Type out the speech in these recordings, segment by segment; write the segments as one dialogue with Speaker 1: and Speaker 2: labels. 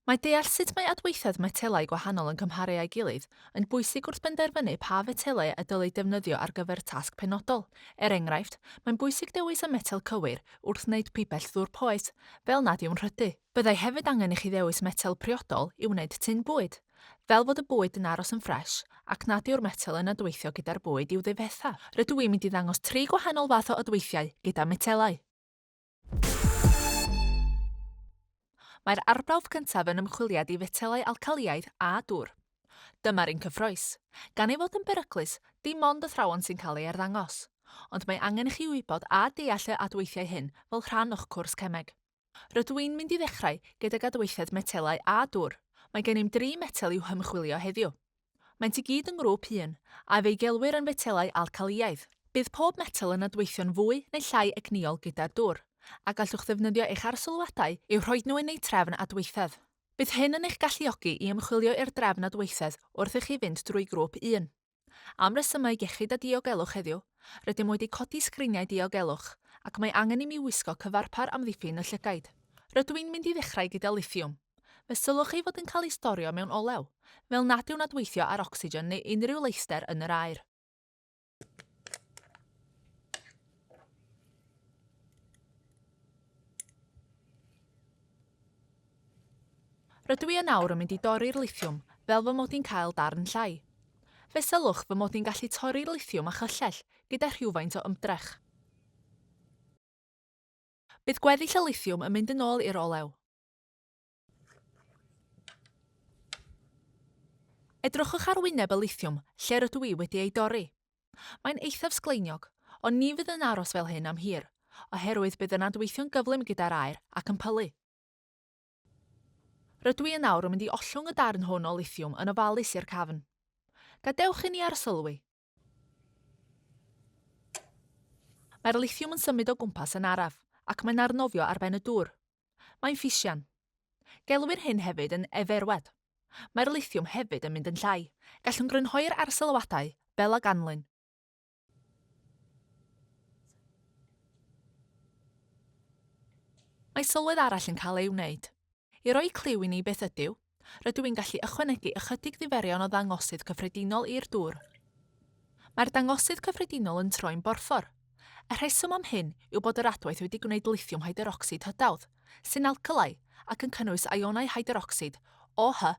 Speaker 1: Mae deall sut mae adweithiad metelau gwahanol yn cymharu â'i gilydd yn bwysig wrth benderfynu pa fetelau y dylai defnyddio ar gyfer tasg penodol. Er enghraifft, mae'n bwysig dewis y metel cywir wrth wneud pibell ddŵr poeth, fel nad yw'n rhydu. Byddai hefyd angen i chi ddewis metel priodol i wneud tun bwyd, fel fod y bwyd yn aros yn ffres ac nad yw'r metel yn adweithio gyda'r bwyd i'w ddifetha. Rydw i'n mynd i ddangos tri gwahanol fath o adweithiau gyda metelau. Mae'r arbrawf cyntaf yn ymchwiliad i fetelau alcalïaidd a dŵr. Dyma'r un cyffrous. Gan ei fod yn beryglus, dim ond athrawon sy'n cael ei arddangos. Ond mae angen i chi wybod a deall y adweithiau hyn fel rhan o'ch cwrs cemeg. Rydw i'n mynd i ddechrau gydag adweithiad metelau a dŵr. Mae gennym dri metel i'w hymchwilio heddiw. Maent i gyd yn ngrŵp un, a fe'i gelwir yn fetelau alcalïaidd. Bydd pob metel yn adweithio'n fwy neu llai egnïol gyda'r dŵr, a gallwch ddefnyddio eich arsylwadau i'w rhoi nhw yn eu trefn adweithedd. Bydd hyn yn eich galluogi i ymchwilio i'r drefn adweithedd wrth i chi fynd drwy grŵp un. Am resymau iechyd a diogelwch heddiw, rydym wedi codi sgriniau diogelwch, ac mae angen i mi wisgo cyfarpar amddiffyn y llygaid. Rydw i'n mynd i ddechrau gyda lithiwm. Fe sylwch chi fod yn cael ei storio mewn olew, fel nad yw'n adweithio ar ocsigen neu unrhyw leithder yn yr aer. Rydw i yn awr yn mynd i dorri'r lithiwm fel fy mod i'n cael darn llai. Fe sylwch fy mod i'n gallu torri'r lithiwm â chyllell gyda rhywfaint o ymdrech. Bydd gweddill y lithiwm yn mynd yn ôl i'r olew. Edrychwch ar wyneb y lithiwm lle rydw i wedi ei dorri. Mae'n eithaf sgleiniog, ond ni fydd yn aros fel hyn am hir, oherwydd bydd yn adweithio'n gyflym gyda'r aer ac yn pylu. Rydw i yn awr yn mynd i ollwng y darn hwn o lithiwm yn ofalus i'r cafn. Gadewch i ni arsylwi. Mae'r lithiwm yn symud o gwmpas yn araf, ac mae'n arnofio ar ben y dŵr. Mae'n ffisian. Gelwir hyn hefyd yn eferwedd. Mae'r lithiwm hefyd yn mynd yn llai. Gallwn grynhoi'r arsylwadau fel a ganlyn. Mae sylwedd arall yn cael ei wneud. I roi cliw i ni beth ydyw, rydw i'n gallu ychwanegu ychydig ddiferion o ddangosydd cyffredinol i'r dŵr. Mae'r dangosydd cyffredinol yn troi'n borffor. Y rheswm am hyn yw bod yr adwaith wedi gwneud lithiwm hyderocsid hydawdd, sy'n alcalau ac yn cynnwys ionau hyderocsid OH-.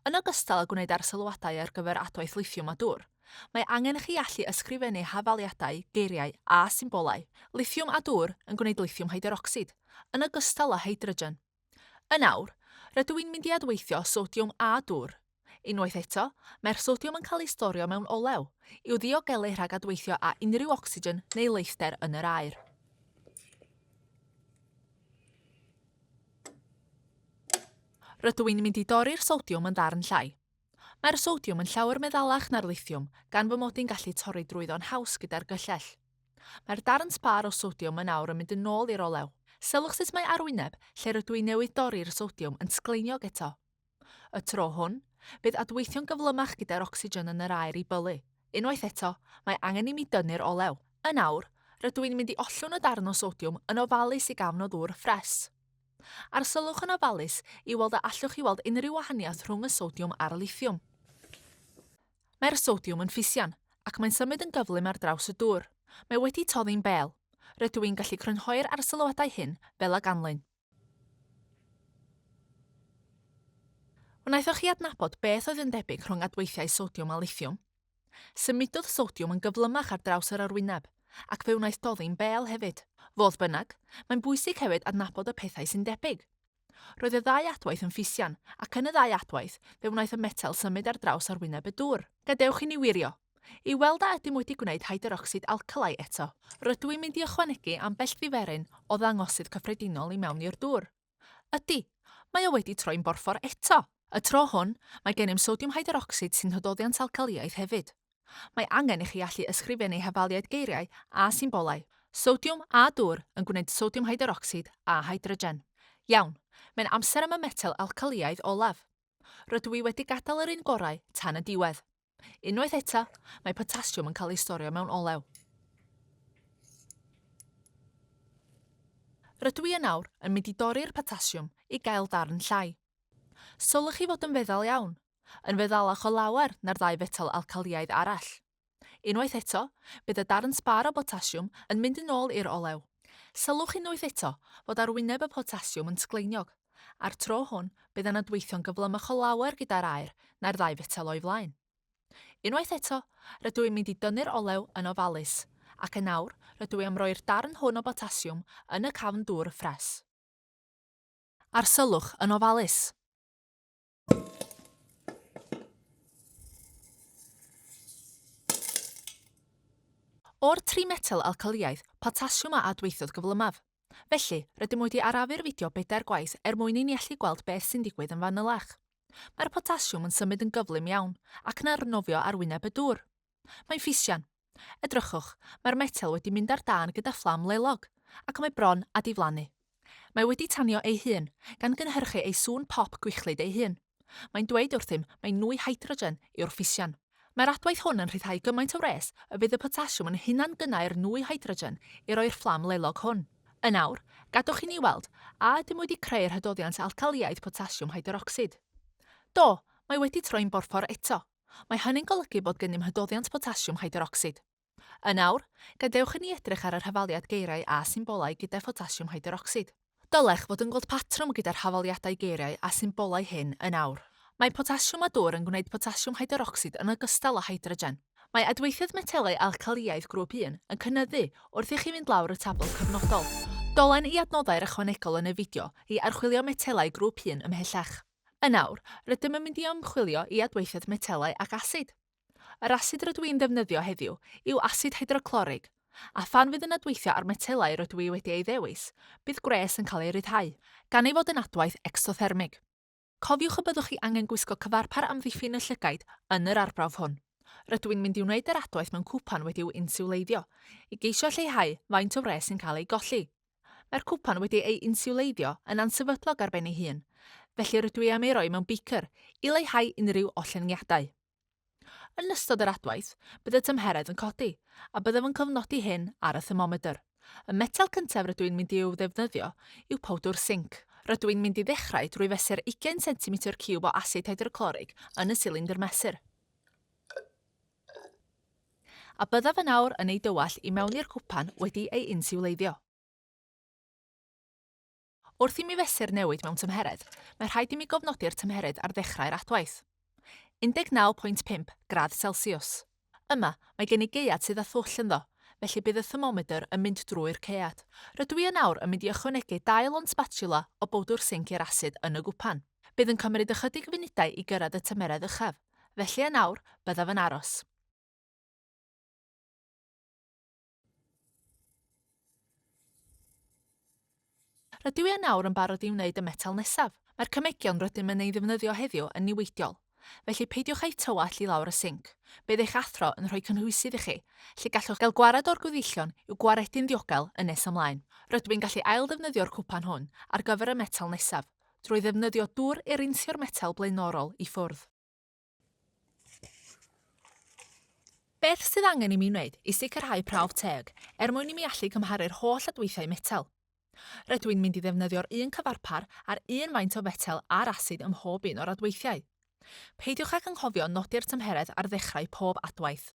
Speaker 1: Yn ogystal â gwneud arsylwadau ar gyfer adwaith lithiwm a dŵr, mae angen i chi allu ysgrifennu hafaliadau, geiriau a symbolau, lithiwm a dŵr yn gwneud lithiwm hyderocsid, yn ogystal â hydrogen. Yn awr, rydw i'n mynd i adweithio sodiwm a dŵr. Unwaith eto, mae'r sodiwm yn cael ei storio mewn olew, i'w ddiogelu rhag adweithio â unrhyw ocsigen neu leithder yn yr aer. Rydw i'n mynd i dorri'r sodiwm yn ddarn llai. Mae'r sodiwm yn llawer meddalach na'r lithiwm, gan fy mod i'n gallu torri drwyddo'n haws gyda'r gyllell. Mae'r darn sbâr o sodiwm yn awr yn mynd yn ôl i'r olew. Sylwch sut mae arwyneb, lle rydw i newydd dorri'r sodiwm, yn sgleiniog eto. Y tro hwn, bydd adweithio'n gyflymach gyda'r ocsigen yn yr aer i bylu. Unwaith eto, mae angen i mi dynnu'r olew. Yn awr, rydw i'n mynd i ollwng y darn o sodiwm yn ofalus i gafn o ddŵr ffres. Arsylwch yn ofalus i weld a allwch chi weld unrhyw wahaniaeth rhwng y sodiwm a'r lithiwm. Mae'r sodiwm yn ffisian, ac mae'n symud yn gyflym ar draws y dŵr. Mae wedi toddi'n bel. Rydw i'n gallu crynhoi'r arsylwadau hyn fel a ganlyn. Wnaethoch chi adnabod beth oedd yn debyg rhwng adweithiau sodiwm a lithiwm? Symudodd sodiwm yn gyflymach ar draws yr arwyneb, ac fe wnaeth doddi'n bel hefyd. Fodd bynnag, mae'n bwysig hefyd adnabod y pethau sy'n debyg. Roedd y ddau adwaith yn ffisian, ac yn y ddau adwaith, fe wnaeth y metel symud ar draws arwyneb y dŵr. Gadewch i ni wirio. I weld a ydym wedi gwneud hyderocsid alcali eto, rydw i'n mynd i ychwanegu ambell ddiferyn o ddangosydd cyffredinol i mewn i'r dŵr. Ydy, mae o wedi troi'n borffor eto! Y tro hwn, mae gennym sodiwm hyderocsid sy'n hydoddiant alcalïaeth hefyd. Mae angen i chi allu ysgrifennu hafaliaid geiriau a symbolau, sodiwm a dŵr yn gwneud sodiwm hyderocsid a hydrogen. Iawn, mae'n amser am y metel alcalïaidd olaf. Rydw i wedi gadael yr un gorau tan y diwedd. Unwaith eto, mae potasiwm yn cael ei storio mewn olew. Rydw i yn awr yn mynd i dorri'r potasiwm i gael darn llai. Sylwch chi fod yn feddal iawn, yn feddalach o lawer na'r ddau fetel alcaliaidd arall. Unwaith eto, bydd y darn sbar o botasiwm yn mynd yn ôl i'r olew. Sylwch unwaith eto fod arwyneb y potasiwm yn sgleiniog. A'r tro hwn, bydd yna dweithio'n gyflymach o lawer gyda'r aer na'r ddau fetel o'i flaen. Unwaith eto, rydw i'n mynd i dynnu'r olew yn ofalus, ac yn awr, rydw i am roi'r darn hwn o botasiwm yn y cafn dŵr ffres. Arsyllwch yn ofalus. O'r tri metel alcalïaidd, potasiwm a adweithiodd gyflymaf. Felly, rydym wedi arafu'r fideo bedair gwaith er mwyn i ni allu gweld beth sy'n digwydd yn fanylach. Mae'r potasiwm yn symud yn gyflym iawn, ac yn arnofio ar wyneb y dŵr. Mae'n fisian. Edrychwch, mae'r metel wedi mynd ar dân gyda fflam lelog, ac mae bron â diflannu. Mae wedi tanio ei hun, gan gynhyrchu ei sŵn pop gwichlyd ei hun. Mae'n dweud wrthym mai nwy hydrogen yw'r fisian. Mae'r adwaith hwn yn rhyddhau gymaint o wres y bydd y potasiwm yn hunangynnau'r nwy hydrogen i roi'r fflam lelog hwn. Yn awr, gadwch i ni weld a ydym wedi creu'r hydoddiant alcaliaidd potasiwm hydrocsid. Do, mae wedi troi'n borffor eto. Mae hynny'n golygu bod gennym hydoddiant potasiwm hyderocsid. Yn awr, gadewch i ni edrych ar yr hafaliad geiriau a symbolau gyda photasiwm hyderocsid. Dylech fod yn gweld patrwm gyda'r hafaliadau geiriau a symbolau hyn yn awr. Mae potasiwm a dwr yn gwneud potasiwm hyderocsid yn ogystal â hydrogen. Mae adweithiad metelau alcalïaidd grŵp un yn cynyddu wrth i chi fynd lawr y tabl cyfnodol. Dolen i adnoddau'r ychwanegol yn y fideo i archwilio metelau grŵp un ymhellach. Yn awr, rydym yn mynd i ymchwilio i adweithiad metelau ac asid. Yr asid rydw i'n ddefnyddio heddiw yw asid hydroclorig, a phan fydd yn adweithio ar metelau rydw i wedi ei ddewis, bydd gwres yn cael ei ryddhau, gan ei fod yn adwaith ecsothermig. Cofiwch y byddwch chi angen gwisgo cyfarpar amddiffyn y llygaid yn yr arbrawf hwn. Rydw i'n mynd i wneud yr adwaith mewn cwpan wedi'w insiwleiddio, i geisio lleihau faint o wres sy'n cael ei golli. Mae'r cwpan wedi ei insiwleiddio yn ansefydlog ar ben ei hun, felly rydw i am ei roi mewn beaker i leihau unrhyw ollyngiadau. Yn ystod yr adwaith, bydd y tymheredd yn codi, a byddaf yn cofnodi hyn ar y thermomedr. Y metel cyntaf rydw i'n mynd i'w ddefnyddio yw powdwr sinc. Rydw i'n mynd i ddechrau drwy fesur 20 centimetr ciwb o asid hydroclorig yn y silindr mesur. A byddaf yn awr yn ei dywallt i mewn i'r cwpan wedi ei insiwleiddio. Wrth i mi fesur newid mewn tymheredd, mae rhaid i mi gofnodi'r tymheredd ar ddechrau'r adwaith. 19.5 gradd Celsiws. Yma, mae gen i gaead sydd â thwll ynddo, felly bydd y thermomedr yn mynd drwy'r caead. Rydw i yn awr yn mynd i ychwanegu dau lond sbatiwla o bowdwr sinc i'r asid yn y gwpan. Bydd yn cymryd ychydig funudau i gyrraedd y tymeredd uchaf, felly yn awr, byddaf yn aros. Rydw i yn awr yn barod i wneud y metel nesaf. Mae'r cymegion rydym yn ei ddefnyddio heddiw yn niweidiol, felly peidiwch â'u tywallt i lawr y sinc. Bydd eich athro yn rhoi cynhwysydd i chi, lle gallwch gael gwared o'r gweddillion i'w gwaredu'n ddiogel yn nes ymlaen. Rydw i'n gallu ail-ddefnyddio'r cwpan hwn ar gyfer y metel nesaf. drwy ddefnyddio dŵr erinsio'r metel blaenorol i ffwrdd. Beth sydd angen i mi wneud i sicrhau prawf teg er mwyn i mi allu cymharu'r holl adweithiau metel? Rydw i'n mynd i ddefnyddio'r un cyfarpar a'r un faint o fetel a'r asid ym mhob un o'r adweithiau. Peidiwch ag anghofio nodi'r tymheredd ar ddechrau pob adwaith.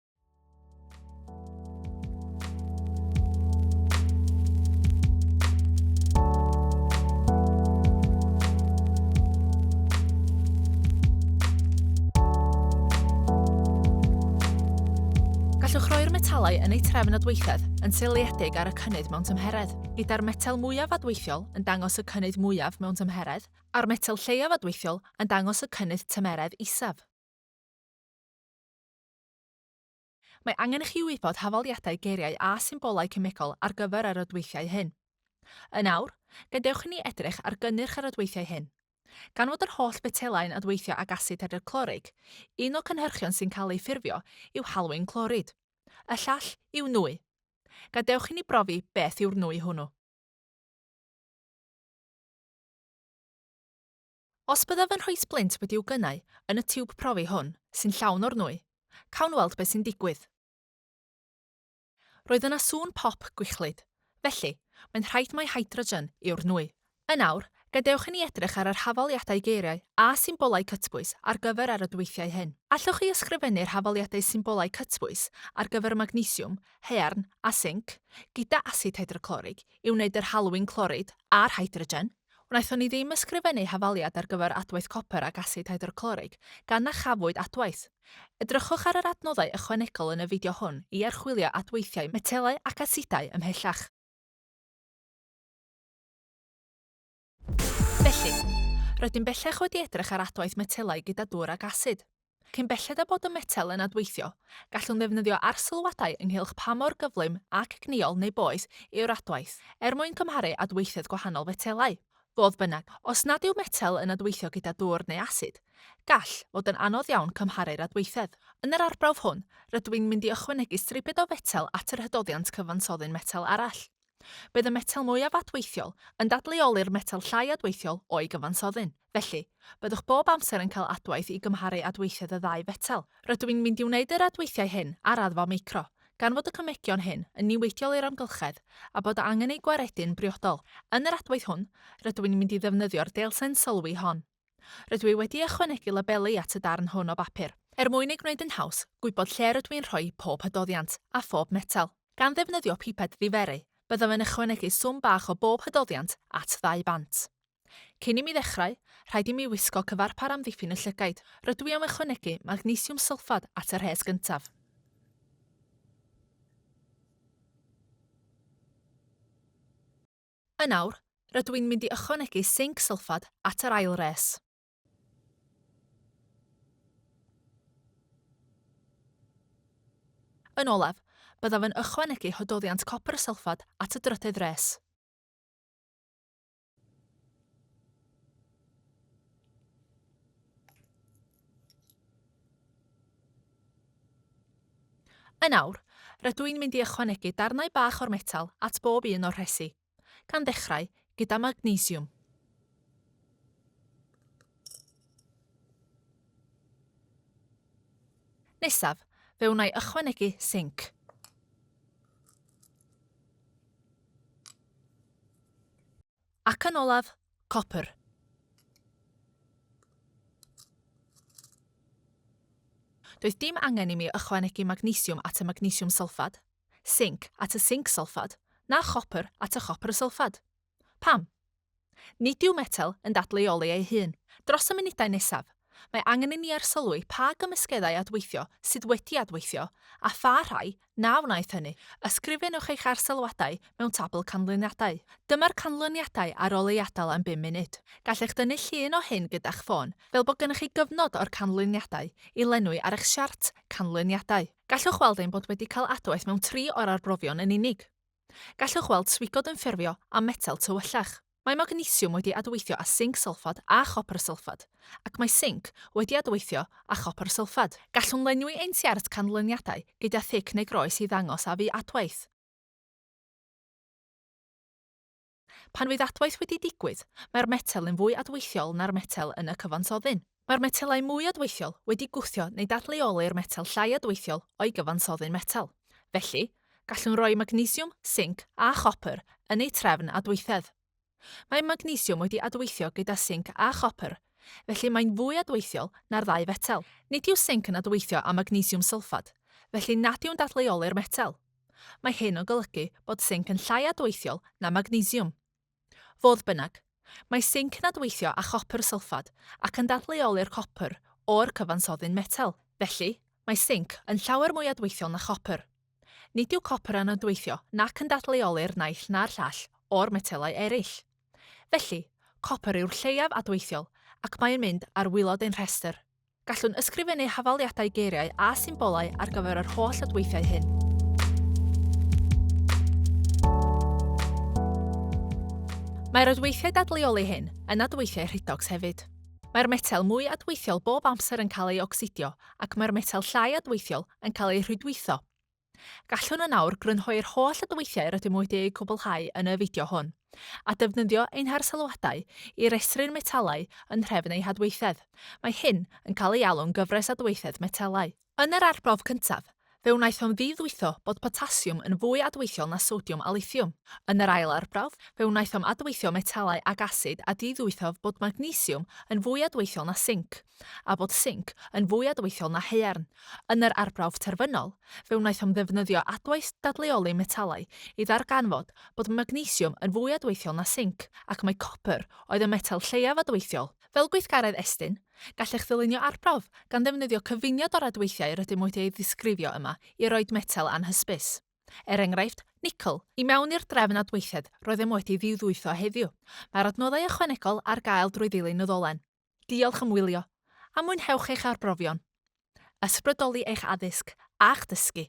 Speaker 1: Gallwch roi'r metalau yn eu trefn adweithedd yn seiliedig ar y cynnydd mewn tymheredd, gyda'r metel mwyaf adweithiol yn dangos y cynnydd mwyaf mewn tymheredd a'r metel lleiaf adweithiol yn dangos y cynnydd tymeredd isaf. Mae angen i chi wybod hafaliadau geiriau a symbolau cemegol ar gyfer yr adweithiau hyn. Yn awr, gadewch i ni edrych ar gynnyrch yr adweithiau hyn. Gan fod yr holl fetelau'n adweithio ag asid hydroclorig, un o cynhyrchion sy'n cael ei ffurfio yw halwyn clorid. Y llall yw nwy. Gadewch i ni brofi beth yw'r nwy hwnnw. Os byddaf yn rhoi splint wedi'w gynnau yn y tiwb profi hwn, sy'n llawn o'r nwy, cawn weld beth sy'n digwydd. Roedd yna sŵn pop gwichlyd. Felly, mae'n rhaid mai hydrogen yw'r nwy. Yn awr, gadewch i ni edrych ar yr hafaliadau geiriau a symbolau cytbwys ar gyfer ar y dweithiau hyn. Allwch chi ysgrifennu'r hafaliadau symbolau cytbwys ar gyfer magnesiwm, haearn a sinc, gyda asid hydroclorig i wneud yr halwyn clorid a'r hydrogen? Wnaethon ni ddim ysgrifennu hafaliad ar gyfer adwaith copr ac asid hydroclorig, gan na chafwyd adwaith. Edrychwch ar yr adnoddau ychwanegol yn y fideo hwn i archwilio adweithiau metelau ac asidau ymhellach. Felly, rydym bellach wedi edrych ar adwaith metelau gyda dŵr ac asid. Cyn belled â bod y metel yn adweithiol, gallwn ddefnyddio arsylwadau ynghylch pa mor gyflym ac gniol neu boeth yw'r adwaith, er mwyn cymharu adweithiad gwahanol fetelau. Fodd bynnag, os nad yw metel yn adweithio gyda dwr neu asid, gall fod yn anodd iawn cymharu'r adweithedd. Yn yr arbrawf hwn, rydw i'n mynd i ychwanegu stribed o fetel at yr hydoddiant cyfansoddyn metel arall. Bydd y metel mwyaf adweithiol yn dadleoli'r metel llai adweithiol o'i gyfansoddyn. Felly, byddwch bob amser yn cael adwaith i gymharu adweithiad y ddau fetel. Rydw i'n mynd i wneud yr adweithiau hyn ar raddfa micro, gan fod y cymegion hyn yn niweidiol i'r amgylchedd a bod angen eu gwaredu'n briodol. Yn yr adwaith hwn, rydw i'n mynd i ddefnyddio'r deilsen sylwi hon. Rydw i wedi ychwanegu labeli at y darn hwn o bapur, er mwyn ei gwneud yn haws gwybod lle rydw i'n rhoi pob hydoddiant, a phob metel. Gan ddefnyddio piped ddiferu, byddaf yn ychwanegu swm bach o bob hydoddiant at ddau bant. Cyn i mi ddechrau, rhaid i mi wisgo cyfarpar amddiffyn y llygaid. Rydw i am ychwanegu magnesiwm sylffad at y rhes gyntaf. Yn awr, rydw i'n mynd i ychwanegu sinc sylffad at yr ail res. Yn olaf, byddaf yn ychwanegu hododdiant copr sylffad at y drydedd res. Yn awr, rydw i'n mynd i ychwanegu darnau bach o'r metel at bob un o'r rhesi, gan ddechrau gyda magnesiwm. Nesaf, fe wna i ychwanegu sinc. Ac yn olaf, copr. Doedd dim angen i mi ychwanegu magnesiwm at y magnesiwm sylffad, sinc at y sinc sylffad, na chopr at y chopr sylffad. Pam? Nid yw metel yn dadleuoli ei hun. Dros y munudau nesaf, mae angen i ni arsylwi pa gymysgeddau adweithio sydd wedi adweithio a pha rhai Na wnaeth hynny. Ysgrifennwch eich arsylwadau mewn tabl canlyniadau. Dyma'r canlyniadau ar ôl ei adael am bum munud. Gallech dynnu llun o hyn gyda'ch ffôn, fel bod gennych chi gyfnod o'r canlyniadau i lenwi ar eich siart canlyniadau. Gallwch weld ein bod wedi cael adwaith mewn tri o'r arbrofion yn unig. Gallwch weld swigod yn ffurfio a metel tywyllach. Mae magnesiwm wedi adweithio â sinc sylffad a chopr sylffad, ac mae sinc wedi adweithio â chopr sylffad. Gallwn lenwi ein siart canlyniadau gyda thic neu groes i ddangos a fu adwaith. Pan fydd adwaith wedi digwydd, mae'r metel yn fwy adweithiol na'r metel yn y cyfansoddyn. Mae'r metelau mwy adweithiol wedi gwthio neu dadleoli'r metel llai adweithiol o'i gyfansoddi'n metel. Felly, gallwn roi magnesiwm, sinc a chopr yn eu trefn adweithedd. Mae magnesiwm wedi adweithio gyda sinc a chopr, felly mae'n fwy adweithiol na'r ddau fetel. Nid yw sinc yn adweithio â magnesiwm sylffad, felly nad yw'n dadleoli'r metel. Mae hyn yn golygu bod sinc yn llai adweithiol na magnesiwm. Fodd bynnag, mae sinc yn adweithio â chopr sylffad ac yn dadleoli'r copr o'r cyfansoddyn metel. Felly, mae sinc yn llawer mwy adweithiol na chopr. Nid yw copr yn adweithio nac yn dadleoli'r naill na'r llall o'r metelau eraill. Felly, copr yw'r lleiaf adweithiol ac mae'n mynd ar wylod ein rhestr. Gallwn ysgrifennu hafaliadau geiriau a symbolau ar gyfer yr holl adweithiau hyn. Mae'r adweithiau dadleoli hyn yn adweithiau rhedox hefyd. Mae'r metel mwy adweithiol bob amser yn cael ei ocsidio ac mae'r metel llai adweithiol yn cael ei rhwydweithio. Gallwn yn awr grynhoi'r holl adweithiau rydym wedi eu cwblhau yn y fideo hwn, a defnyddio ein harsylwadau i restru'r metalau yn nhrefn eu hadweithedd. Mae hyn yn cael ei alw'n gyfres adweithedd metelau. Yn yr arbrawf cyntaf, fe wnaethom ddiddwytho bod potasiwm yn fwy adweithiol na sodiwm a lithiwm. Yn yr ail arbrawf, fe wnaethom adweithio metalau ag asid a diddwythof bod magnesiwm yn fwy adweithiol na sinc. a bod sinc yn fwy adweithiol na haearn. Yn yr arbrawf terfynol, fe wnaethom ddefnyddio adwaith dadleoli metalau i ddarganfod bod magnesiwm yn fwy adweithiol na sinc, ac mai copr oedd y metel lleiaf adweithiol. Fel gweithgaredd Estyn, gallech ddylunio arbrawf gan ddefnyddio cyfuniad o'r adweithiau rydym wedi eu disgrifio yma i roid metel anhysbys, er enghraifft, nicl. I mewn i'r drefn adweithiad roeddem wedi ddiwddwytho heddiw, mae'r adnoddau ychwanegol ar gael drwy ddilyn y ddolen. Diolch am wylio, a mwynhewch eich arbrofion. Ysbrydoli eich addysg a'ch dysgu!